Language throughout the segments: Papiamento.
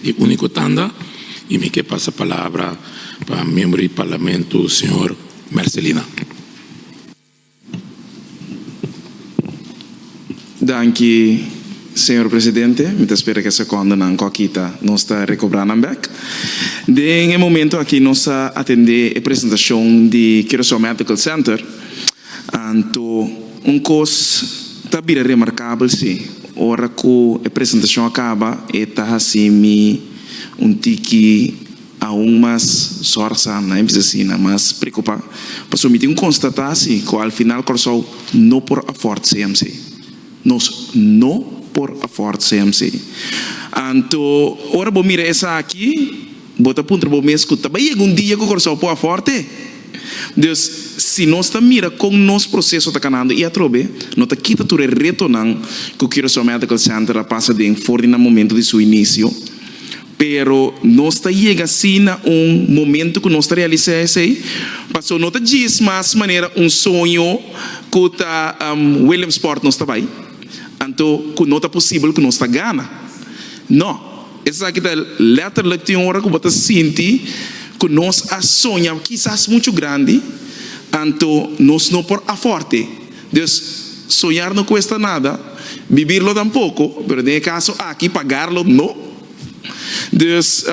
E úniko tanda y mi ke pasa palabra pa miembro di Parlamento señor Mercelina. Danki señor Presidente, mi ta spera ke sekondonan ku a kita nos ta rekobra nan bek. Den e momento aki nos a atende e presentashon di Curaçao Medical Center. Anto un kos ta bira remarkabel si ora ku e presentashon a kaba e ta hasi mi un tiki aun mas sòrsa, na e bisa asina, mas preokupá, pasobra mi tin un konstatashi ku alfinal Kòrsou no por afòrt CMC. Nos no por afòrt CMC. Anto ora bo mira esaki. Bo ta puntra bo mes cu ta bay yega un dia cu Curaçao por a forte? Dus, si nos ta mira con nos proceso ta canando y atrobe, no ta kita tur e retonan cu Curaçao Medical Center a pasa den for di nan momento di su inicio. Pero nos ta yega así na un momento cu nos ta realisa esey, paso no ta djis mas manera un soño cu ta Williamsport nos ta bay, anto cu no ta posibel cu nos ta gana. No. Esaki ta lèterlik tin ora ku bo ta sinti ku nos a soña kisas muchu grandi, anto nos no por afòrte. Dus, soñar no kuesta nada, bibirlo tampoko, pero den e kaso aki, pagarlo no. Dus.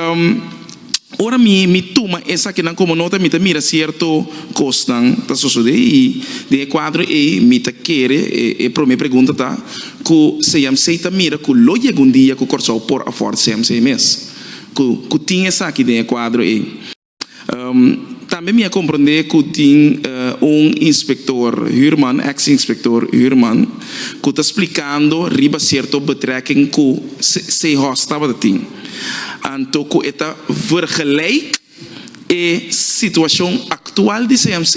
Ora mi mi tuma esakinan komo nota mi ta mira sierto kosnan ta sosodé i den e kuadro ei mi ta kere e promé pregunta ta ku CMC ta mira ku lo yega un dia ku Kòrsou por afòrda CMC mes ku ku tin esaki den e kuadro ei. Tambe mi a komprondé ku tin un inspektor Huurman, ex inspektor Huurman, ku ta splikando riba sierto betrèking ku Seehorst tabata tin. anto ku e ta vergelijk e situashon aktual di CMC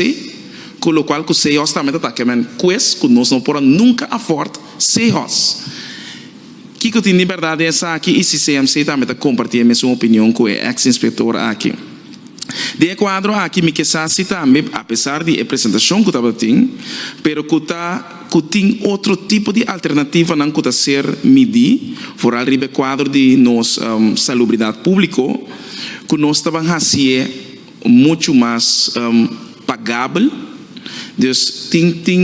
ku lokual ku Seehorst tambe ta taki men kues ku nos no por a nunka afòrd Seehorst. Kiko tin di bèrdat di esaki i si CMC tambe ta kompartí e mesun opinion ku e èks inspektor aki? Den e kuadro aki mi ke sa si tambe, apesar di e presentashon ku tabata tin, pero ku ta. ku tin otro tipo di alternativanan ku ta ser midí, foral riba e kuadro di nos salubridat públiko, ku nos ta ban hasié muchu mas pagabel. Dus tin tin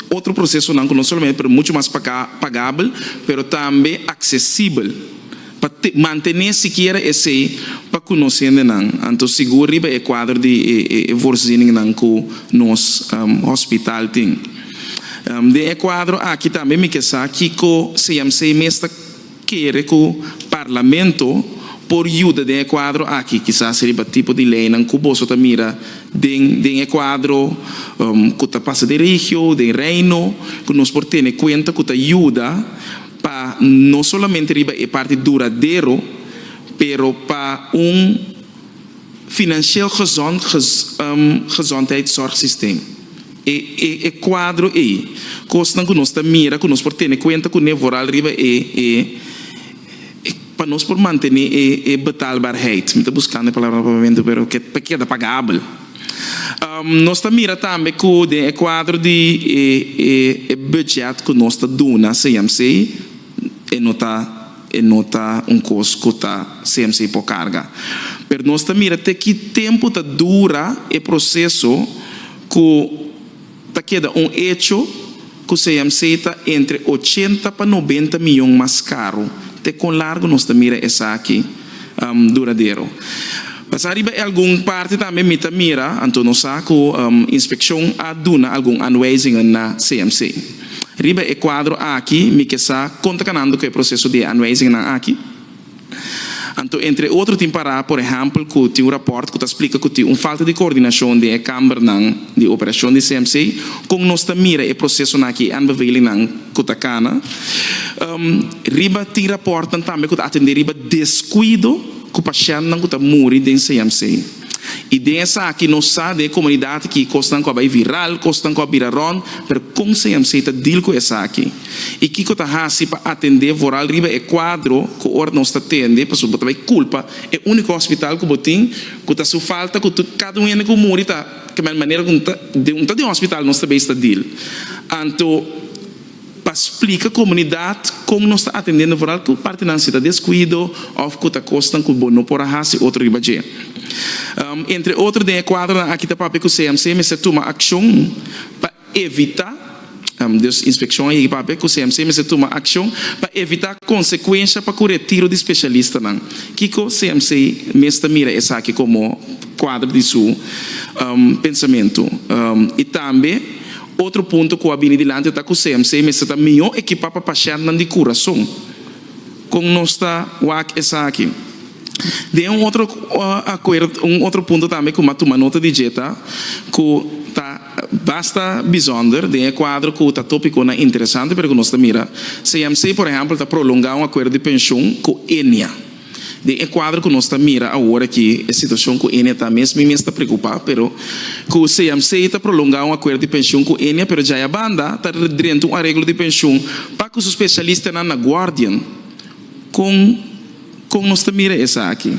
otro prosesonan ku no solamente por muchu mas pagabel, pero tambe aksesibel. Pa mantené sikiera esei pa kunosendenan, anto sigur riba e kuadro di e voorzieningnnan ku nos hospital tin. Den e kuadro aki tambe mi ke sa kiko CMC mes ta kere ku Parlamento por yuda den e kuadro aki, kisas riba tipo di leinan ku boso ta mira den e kuadro ku ta pasa den regio, den reino, ku nos por tene kuenta ku ta yuda. pa no solamente riba e parti duradero, pero pa un financieel gezond gezondheidszorgsysteem. E e cuadro ei, cosnan cu nos ta mira cu nos por tene cuenta cune vooral riba e e e pa nos por mantene e e betaalbaarheid, mi ta buscando e palabra na e momento pero ke ta keda pagabel. Nos ta mira tambe ku den e kuadro di e bùdjèt ku nos ta duna CMC, e no ta e no ta un kos ku ta CMC por karga. Pero nos ta mira te ki tempu ta dura e proseso ku. Ta keda un echo cu CMC ta entre ochenta pa nobenta miyon mas caro. Te con largo nos ta mira esaki duradero? Pasa riba e algun parti tambe mi ta mira, anto nos sa cu inspeccion a duna algun aanwijzingen na CMC. Riba e cuadro aki mi ke sa con ta canando cu e proceso di e aanwijzingennan aki. Anto entre otro tin pará por ehèmpel ku tin un rapòrt ku ta splika ku tin un falta di koordinashon den e kambernan di operashon di CMC. Kon nos ta mira e prosesonan aki, e aanbevelingnan ku ta kana riba? Tin rapòrtnan tambe ku ta atendé riba deskuido ku pashèntnan ku ta muri den CMC. I den esaki nos sa den e komunidat aki kosnan ku a bai viral, kosnan ku a bira rònt, pero kon CMC ta deal ku esaki? I kiko ta hasi pa atendé vooral riba e kuadro ku ora nos ta tende, pasobra bo ta bai kulpa e úniko hospital ku bo tin ku ta su falta ku tur kada un hende ku muri ta kamba el manera ku un ta den hospital nos ta bai sta deal. Anto pa splika komunidat kon nos ta atendendo vooral ku partinan si ta deskuido òf ku ta kosnan ku bo no por a hasi otro riba dje. Entre otro den e kuadronan aki ta papia ku CMC mester tuma akshon pa. evitá dus inspekshon a yegi papia ku CMC mester tuma akshon pa evitá konsekuensha pa ku retiro di speshalistanan. Kiko CMC mes ta mira esaki komo kuadro di su pensamentu i tambe otro punto ku a bini dilanti ta ku CMC mester ta mihó ekipá pa pashèntnan di kurason. Kon nos ta wak esaki? Den un otro akuerdo un otro punto tambe ku mi a tuma nota di dje ta ku ta. Basta bisonder den e kuadro ku ta topikonan interesante pero ku nos ta mira. CMC por ehèmpel ta prolongá un akuerdo di penshun ku Enia. Den e kuadro ku nos ta mira awor aki e situashon ku Enia ta mes mi mes ta preokupá pero ku CMC ta prolongá un akuerdo di penshun ku Enia pero djaya banda ta drenta un areglo di penshun pa ku su speshalistanan na guardian. Kon kon nos ta mira esaki?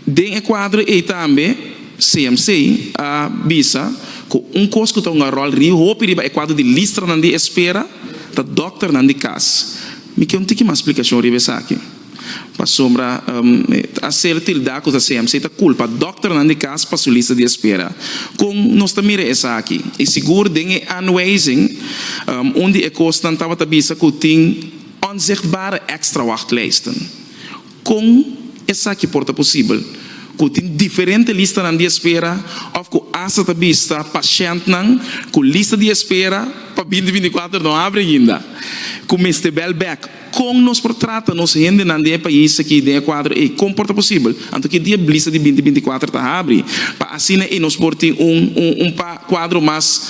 Den e kuadro ei tambe CMC a bisa ku un kos ku ta hunga ròl ri hopi riba e kuadro di listranan di espera ta dòkternan di kas. Mi ke un tiki mas splikashon riba esaki. Pasobra a ser tildá ku ta CMC ta kulpa dòkternan di kas pa su lista di espera. Kon nos ta mira esaki? I sigur den e aanwijzing un di e kosnan tabata bisa ku tin onzichtbare extra wachtlijsten. Kon esaki por ta posibel ku tin diferente listanan di espera òf ku asta ta bista pashèntnan ku lista di espera pa binti binti kuater no abri ainda, ku mester bèl bèk? Kon nos por trata nos hendenan den e pais aki den e kuadro ei? Kon por ta posibel anto ki dia lista di binti binti kuater ta abri pa asina ei nos por tin un un kuadro mas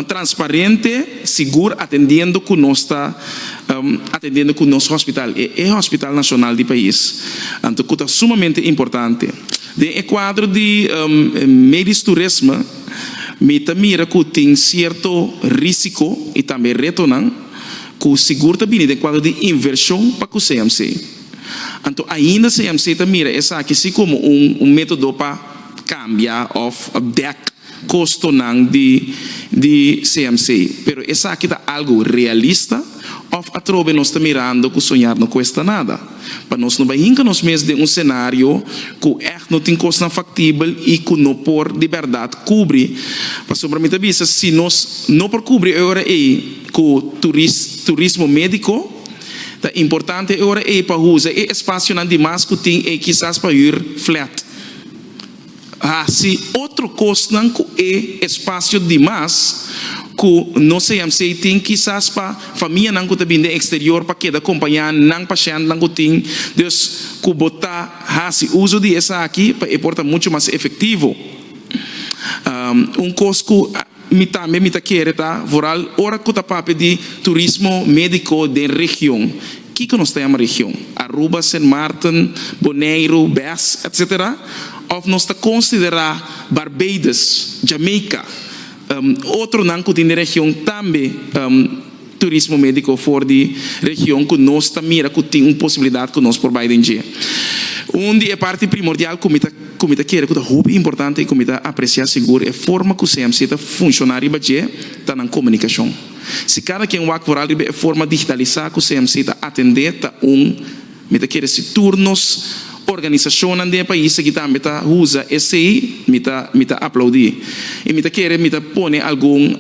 transparente, sigur, atendiendo ku nos ta atendendo cu nos hospital, e e hospital nacional di pais, anto cu ta sumamente importante. Den e cuadro di medisch turisme mi ta mira cu tin cierto risico y tambe retonan cu sigur ta bini den cuadro di inversion pa cu CMC. Anto ainda CMC ta mira esaki si como un metodo pa cambia of dek. kostonan di di CMC, pero esaki ta algu realista òf atrobe nos ta mirando ku soñar no kuesta nada? Pa nos no bai hinka nos mes den un senario ku ègt no tin kosnan faktibel i ku no por di bèrdat kubri, pasobra mi ta bisa si nos no por kubri e ora ei ku turis turismo médiko, ta importante e ora ei pa usa e espasionan di mas ku tin ei kisas pa hür flat. hasi otro kosnan ku e espasio dimas ku nos CMC tin kisas pa famianan ku ta bini den eksterior pa keda kompañá nan pashèntnan ku tin. Dus ku bo ta hasi uso di esaki pa e por ta muchu mas efektivo un kos ku. Mi tambe mi ta kere ta vooral ora ku ta papia di turismo médiko den region. Kiko nos ta yama region? Aruba, Sint Maarten, Boneiru, Bes, etc. Òf nos ta konsiderá Barbados, Jamaica, otro nan ku tin den region tambe? turismo médiko for di region ku nos ta mira ku tin un posibilidat ku nos por bai den dje. Un di e parti primordial ku mi ta ku mi ta kere ku ta hopi importante i ku mi ta apresiá sigur e forma ku CMC ta funshoná riba dje ta nan komunikashon. Si kada ken wak foral riba e forma digitalisá ku CMC ta atendé ta un Mi ta kere si tur nos organisacionnan den e pais aki tambe ta uza esey, mi ta mi ta aplaudi. Y mi ta kere mi ta pone algun,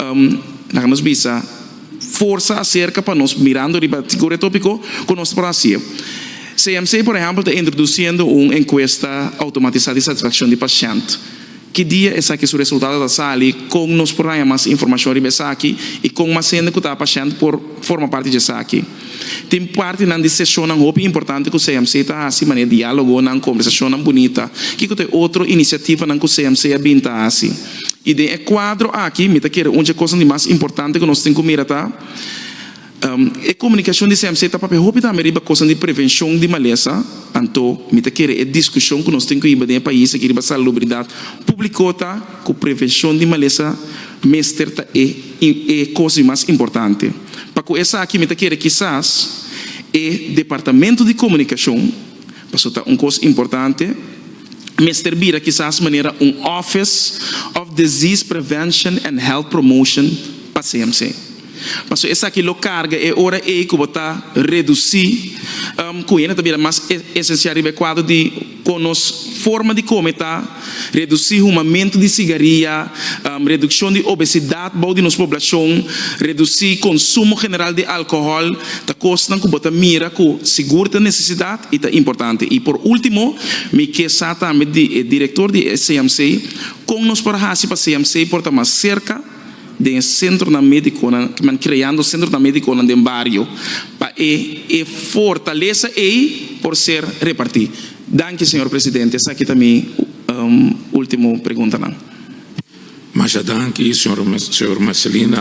laga nos bisa, forsa acerca pa nos mirando riba sigur e topico cu nos ta por haci'e. CMC, por ehempel, ta introduciendo un encuesta automatizada di satisfaccion di pashent. Ki dia esaki su resultado ta sali, kon nos por haña mas informashon riba esaki i kon mas hende ku ta apashènt por forma parti di esaki. Tin partinan di seshonnan hopi importante ku CMC ta hasi manera diálogonan, kombersashonnan bunita, kiko ta e otro inisiativanan ku CMC a bin ta hasi. I den e kuadro aki mi ta kere un dje kosnan di mas importante ku nos tin ku mira ta. E komunikashon di CMC ta papia hopi tambe riba kosnan di prevenshon di malesa, anto mi ta kere e diskushon ku nos tin ku hiba den e pais aki riba salubridat públiko ta ku prevenshon di malesa mester ta e e kos di mas importante. Pa ku esaki mi ta kere kisas e departamento di komunikashon, paso ta un kos importante, mester bira kisas manera un office of disease prevention and health promotion pa CMC. Pasobra esaki lo karga e ora ei ku bo ta redusí ku hende ta bira mas esensial riba e kuadro di kon nos forma di kome ta, redusí humamentu di sigaria, redukshon di obesidat bou di nos poblashon, redusí konsumo general di alkohòl, ta kosnan ku bo ta mira ku sigur ta nesesidat i ta importante. I por último, mi ke sa tambe di e direktor di e CMC kon nos por hasi pa CMC por ta mas serka, den sentronan médikonan, kiman kreando sentronan médikonan den bario pa e e fortalesa ei por ser repartí. Danki señor presidente, esaki ta mi último preguntanan. Masha danki, señor Marcelino.